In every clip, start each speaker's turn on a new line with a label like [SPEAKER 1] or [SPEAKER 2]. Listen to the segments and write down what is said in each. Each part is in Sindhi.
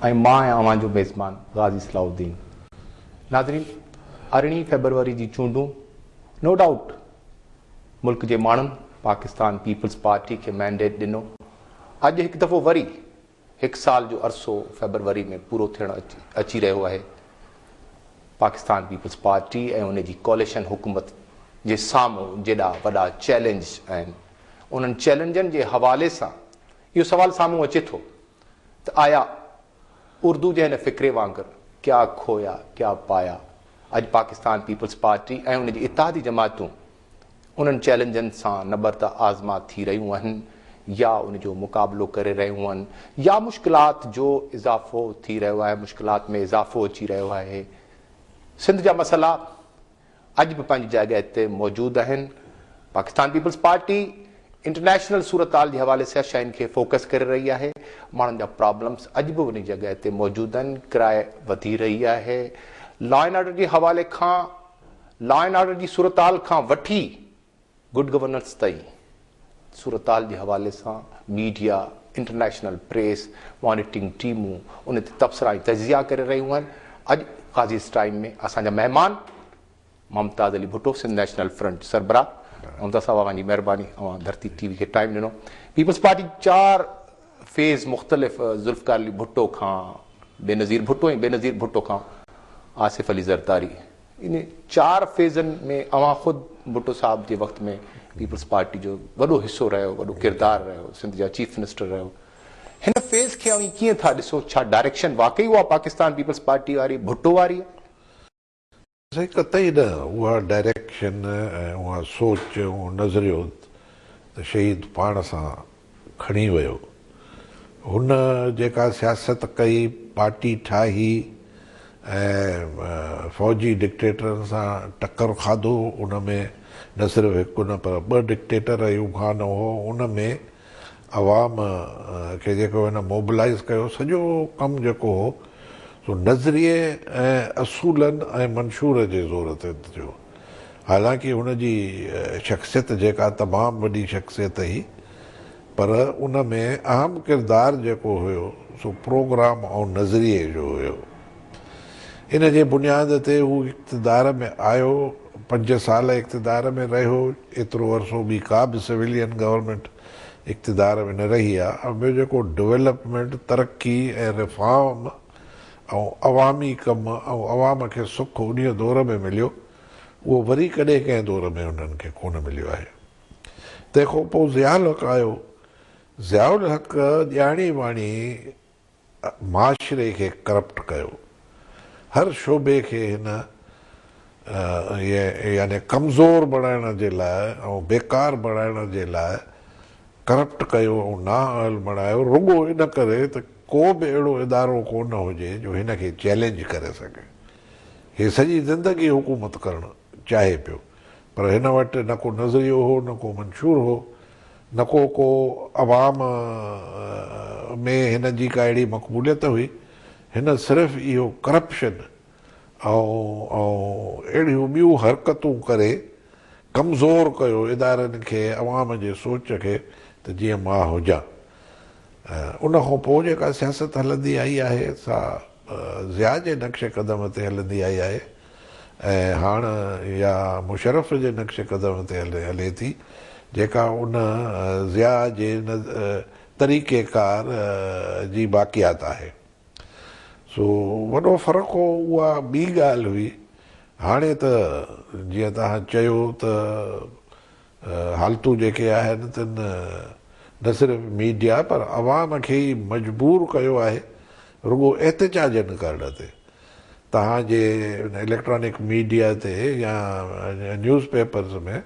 [SPEAKER 1] ۽ مان آهيان اوهان جو ميزبان غازي صلاح الدين. ناظرين ارڙهين فيبروري جي چونڊون نو ڊائوٽ ملڪ جي ماڻهن پاڪستان پيپلز پارٽي کي مينڊيٽ ڏنو اڄ هڪ دفعو وري هڪ سال جو عرصو فيبروري ۾ پورو ٿيڻ اچي رهيو آهي پاڪستان پيپلز پارٽي ۽ ان جي ڪواليشن حڪومت جي سامهون جيڏا وڏا چئلينج آهن انهن چئلينجن جي حوالي سان اهو سوال سامهون اچي ٿو ته آيا اردو جي هن فقري وانگر ڪيا کويا ڪيا پايا اڄ پاڪستان پيپلز پارٽي ۽ ان جي اتحادي جماعتون انهن چئلينجن سان نبرده آزما ٿي رهيون اهن يا ان جو مقابلو ڪري رهيون اهن يا مشڪلات جو اضافو ٿي رهيو آهي مشڪلات ۾ اضافو اچي رهيو آهي سنڌ جا مسئلا اڄ به پنهنجي جاڳهه تي موجود آهن. پاڪستان پيپلز پارٽي انٽرنيشنل صورتحال جي حوالي سيان شين کي فوڪس ڪري رهي آهي. ماڻهن جا پرابلمز اڄ به انهي جڳهه تي موجود آهن. ڪراء وڌي رهي آهي. لا اينڊ آرڊر جي حوالي کان لا اينڊ آرڊر جي صورتحال کان وٺي گڊ گورننس تائين صورتحال جي حوالي سان ميڊيا، انٽرنيشنل پريس، مانيٽرنگ ٽيمون ان تي تبصرا ۽ تجزيا ڪري رهيون آهن. اڄ قاضيز ٽائيم ۾ اسان جا مهمان ممتاز علي ڀٽو سنڌ نيشنل فرنٽ سربراهه ممتاز صاحب اوهان جي مهرباني اوهان ڌرتي ٽي وي کي ٽائيم ڏنو پيپلز پارٽي چار فيز مختلف ذوالفقار علي ڀٽو کان بينظير ڀٽو ۽ بينظير ڀٽو کان آصف علي زرداري ان چار فيزن ۾ اوهان خود ڀٽو صاحب جي وقت ۾ پيپلز پارٽي جو وڏو حصو رهيو، وڏو ڪردار رهيو، سنڌ جا چيف منسٽر رهيو، هن فيز کي اوهين ڪيئن ٿا ڏسو؟ ڇا ڊائريڪشن واقعي اها پاڪستان پيپلز پارٽي واري ڀٽو واري آهي؟
[SPEAKER 2] قطعي نه، اها ڊائريڪشن ۽ اها سوچ اهو نظريو ته شهيد پاڻ سان کڻي ويو. هن جيڪا سياست ڪئي، پارٽي ٺاهي ۽ فوجي ڊڪٽيٽرن سان ٽڪر کاڌو، ان ۾ نه صرف هڪ نه پر ٻه ڊڪٽيٽر ايوب خان هو، ان ۾ عوام کي جيڪو هن موبلائيز ڪيو، سڄو ڪم جيڪو هو سو نظريي ۽ اصولن ۽ منشور جي زور تي ٿيو. حالانڪ هن جي شخصيت جيڪا تمام وڏي شخصيت هئي پر ان ۾ اهم ڪردار جيڪو هيو سو پروگرام ۽ نظريي جو هيو. ان جي بنياد تي هو اقتدار ۾ آيو، پنج سال اقتدار ۾ رهيو، ايترو عرصو ٻي ڪا به سويلين گورنمينٽ اقتدار ۾ نه رهي آ ۽ ٻيو جيڪو ڊولپمينٽ، ترقي ۽ ريفارم، ۽ عوامي ڪم ۽ عوام کي سک انهيء دور ۾ مليو، اهو وري ڪڏهن ڪنهن دور ۾ انهن کي ڪونه مليو آهي. تنهن کان پوء ضياء الحق آيو. ضياء الحق ڄاڻي واڻي معاشري کي ڪرپٽ ڪيو. هر شعبي کي هن يعني ڪمزور بڻائڻ جي لاء ۽ بيڪار بڻائڻ جي لاء ڪرپٽ ڪيو ۽ نااهل بڻايو، رڳو ان ڪري ته ڪو به اهڙو ادارو ڪو نه هجي جو هن کي چئلينج ڪري سگهي. هي سڄي زندگي حڪومت ڪرڻ چاهي پيو پر هن وٽ نه ڪو نظريو هو نه ڪو منشور هو نه ڪو ڪو عوام ۾ هن جي ڪا اهڙي مقبوليت هئي هن صرف اهو ڪرپشن ۽ اهڙيون ٻيون حرڪتون ڪري ڪمزور ڪيو ادارن کي عوام جي سوچ کي ته جيئن مان هجان. ان کان پوء جيڪا سياست هلندي آئي آهي سا ضياء جي نقش قدم تي هلندي آئي آهي ۽ هاڻ اها مشرف جي نقش قدم تي هلي ٿي جيڪا ان ضياء جي طريقي ڪار جي باقيات آهي سو وڏو فرق هو اها ٻي ڳالهه هئي هاڻي ته جيئن توهان چيو ته حالتون جيڪي آهن تن نه صرف ميڊيا پر عوام کي ئي مجبور ڪيو آهي رڳو احتجاج نه ڪرڻ تي. توهان جي ان اليڪٽرانڪ ميڊيا تي يا نيوز پيپرز ۾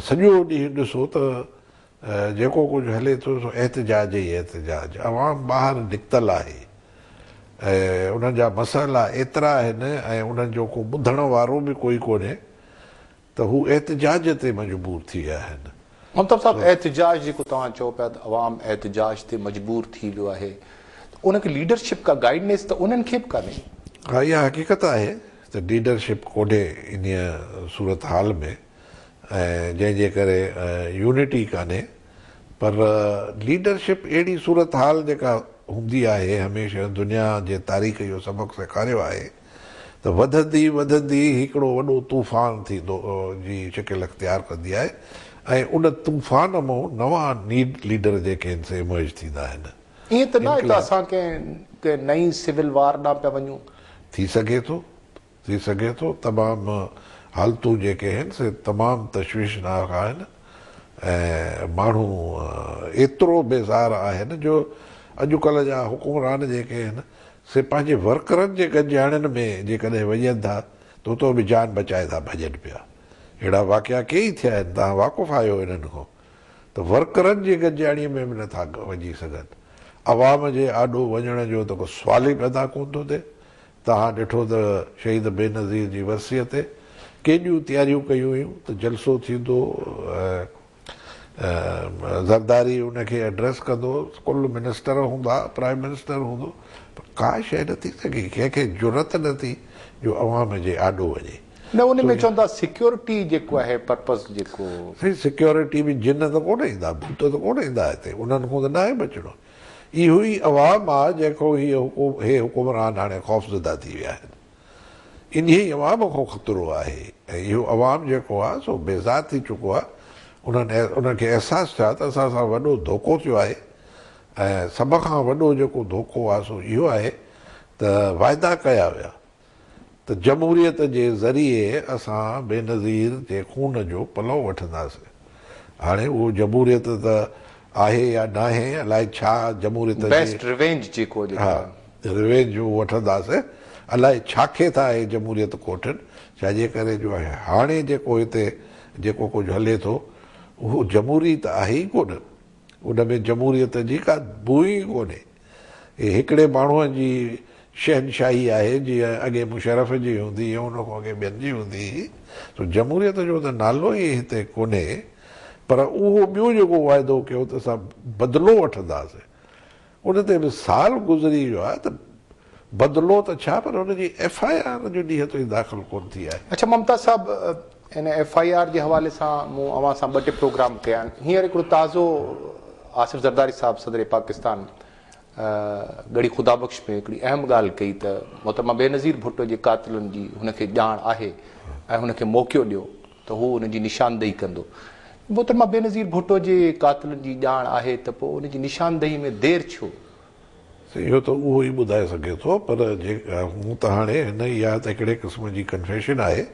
[SPEAKER 2] سڄو ڏينهن ڏسو ته جيڪو ڪجهه هلي ٿو سو احتجاج ئي احتجاج. عوام ٻاهر نڪتل آهي ۽ انهن جا مسئلا ايترا آهن ۽ انهن جو ڪو ٻڌڻ وارو به ڪوئي ڪونهي ته هو احتجاج تي مجبور ٿي ويا آهن. منتر صاحب
[SPEAKER 1] احتجاج جيڪو توهان چئو پيا ته عوام احتجاج تي مجبور ٿي ويو آهي ته ان کي ليڊرشپ ڪا گائيڊنيس ته انهن کي به ڪانهي. ها اها حقيقت
[SPEAKER 2] آهي ته ليڊرشپ ڪونهي انهيء صورتحال ۾ ۽ جنهن جي ڪري يونٽي ڪانهي پر ليڊرشپ اهڙي صورتحال جيڪا هوندي آهي هميشه دنيا جي تاريخ اهو سبق سيکاريو آهي ته وڌندي وڌندي هڪڙو وڏو طوفان ٿي دو جي شڪل اختيار ڪندي آهي ۽ ان طوفان مون نوان نيڊ ليڊر جيڪي آهن سي ايمرج ٿيندا آهن. ائين ته ناهي ته
[SPEAKER 1] اسان ڪنهن ڪنهن نئين سول وار ڏانهن پيا وڃون. ٿي سگهي ٿو ٿي
[SPEAKER 2] سگهي ٿو تمام حالتون جيڪي آهن سي تمام تشويشناڪ آهن ۽ ماڻهو ايترو بيزار آهن جو اڄ ڪلهه جا حڪمران جيڪي آهن سي پنهنجي ورڪرن جي گنجاڻين ۾ جيڪڏهن وڃن ٿا ته اتو به جان بچائي ٿا ڀڄن پيا. اهڙا واقعا ڪيئي ٿيا آهن، توهان واقف آهيو انهن کان ته ورڪرن جي گنجاڻيء ۾ به نه ٿا وڃي سگهن. عوام جي آڏو وڃڻ جو ته ڪو سوال ئي پيدا ڪونه ٿو ٿئي. توهان ڏٺو ته شهيد بينظير جي ورسيء تي ڪيڏيون تياريون ڪيون ويون ته جلسو ٿيندو ۽ زرداري ان کي ايڊريس ڪندو، ڪل منسٽر هوندا، پرائيم منسٽر هوندو، پر ڪا شيء نه ٿي سگهي، ڪنهن کي جرئت نه ٿي جو عوام جي آڏو وڃي. نه ان ۾ چون ٿا
[SPEAKER 1] سيڪيورٽي جيڪو آهي پرپز جيڪو. سائين سيڪيورٽي
[SPEAKER 2] به جن ته ڪونه ايندا، ڀوت ته ڪونه ايندا هتي، انهن کان ته ناهي بچڻو، اهو ئي عوام آ جنهن کان هي حڪمران هاڻي خوفزده ٿي ويا آهن. انهي عوام کان خطرو آهي ۽ اهو عوام جيڪو آهي سو بيزار ٿي چڪو آهي، انهن انهن کي احساس ٿيو آهي ته اسان سان وڏو ڌوڪو ٿيو آهي ۽ سڀ کان وڏو جيڪو ڌوڪو آهي سو اهو آهي ته واعدا ڪيا ويا ته جمهوريت جي ذريعي اسان بينظير جي خون جو پلئو وٺنداسين. هاڻي اهو جمهوريت ته آهي يا ناهي الائي ڇا جمهوريت جي Best Revenge جيڪو جيڪو ها Revenge جو وٺنداسين الائي ڇاکي ٿا اهي جمهوريت ڪوٺين ڇا جي ڪري جو هاڻي جيڪو هتي جيڪو ڪجهه هلي ٿو اهو جمهوري ته آهي ئي ڪونه ان ۾ جمهوريت جي ڪا بوء ئي ڪونهي. هي هڪڙي ماڻهوء جي شهنشاهي آهي، جيئن اڳي مشرف جي هوندي هئي، ان کان اڳي ٻين جي هوندي هئي، سو جمهوريت جو ته نالو ئي هتي ڪونهي، پر اهو ٻيو جيڪو واعدو ڪيو ته اسان بدلو وٺنداسين، ان تي به سال گذري ويو آهي ته بدلو ته ڇا پر ان جي ايف آء آر جو ڏينهن تائين داخل ڪونه ٿي آهي. اڇا ممتاز صاحب!
[SPEAKER 1] ان ايف آء آر جي حوالي سان مون اوهان سان ٻه ٽي پروگرام ڪيا آهن هينئر هڪڙو تازو آصف زرداري صاحب صدر پاڪستان ڳڙهي خدا بخش ۾ هڪڙي اهم ڳالهه ڪئي ته محترمه بينظير ڀٽو جي قاتلن جي هن کي ڄاڻ آهي ۽ هن کي موقعو ڏيو ته هو ان جي نشاندهي ڪندو محترمه بينظير ڀٽو جي قاتلن جي ڄاڻ آهي ته پوء ان جي نشاندهي ۾ دير ڇو سائين اهو
[SPEAKER 2] ته اهو ئي ٻڌائي سگهي ٿو پر جي هو ته هاڻي هن اها ته هڪڙي قسم جي ڪنفيشن آهي.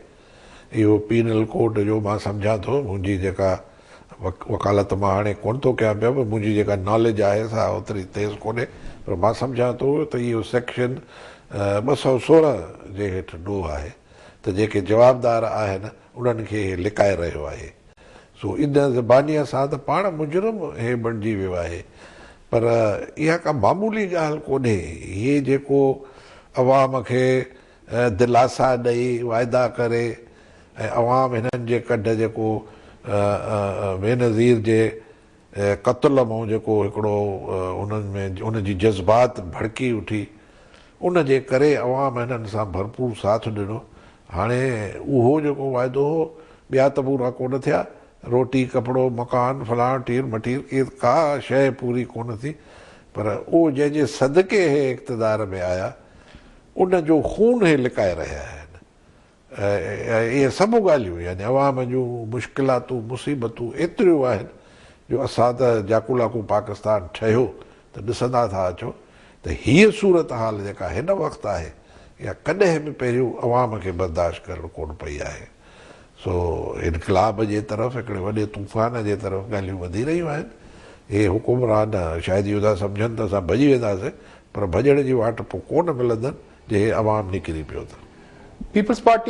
[SPEAKER 2] اهو پينل ڪوڊ جو مان سمجهان ٿو منهنجي جيڪا وڪالت مان هاڻي ڪونه ٿو ڪيان پيو پر منهنجي جيڪا ناليج آهي سا اوتري تيز ڪونهي پر مان سمجهان ٿو ته اهو سيڪشن ٻه سؤ سورهن جي هيٺ ڏوهه آهي ته جيڪي جوابدار آهن انهن کي هي لڪائي رهيو آهي سو ان زبانيء سان ته پاڻ مجرم هي بڻجي ويو آهي پر اها ڪا معمولي ڳالهه ڪونهي هي جيڪو عوام کي دلاسا ڏئي واعدا ڪري ۽ عوام هنن جي ڪڍ جيڪو بينظير جي قتل مون جيڪو هڪڙو انهن ۾ ان جي جذبات ڀڙڪي اٺي ان جي ڪري عوام هنن سان ڀرپور ساٿ ڏنو هاڻي اهو جيڪو واعدو هو ٻيا ته پورا ڪونه ٿيا روٽي ڪپڙو مڪان فلان ٺير مٺير ڪي ڪا شيء پوري ڪونه ٿي پر اهو جنهن جي صدقي هي اقتدار ۾ آيا ان جو خون هي لڪائي رهيا آهن ۽ اهي سڀ ڳالهيون يعني عوام جون مشڪلاتون مصيبتون ايتريون آهن جو اسان ته جاکولاکون پاڪستان ٺهيو ته ڏسندا ٿا اچو ته هيء صورتحال جيڪا هن وقت آهي اها ڪڏهن به پهريون عوام کي برداشت ڪرڻ ڪونه پئي آهي. سو انقلاب جي طرف هڪڙي وڏي طوفان جي طرف ڳالهيون وڌي رهيون آهن. اهي حڪمران شايد اهو ٿا سمجهن ته اسان ڀڄي وينداسين پر ڀڄڻ جي واٽ پوء ڪونه ملندن جي عوام نڪري پيو ته. Peoples Party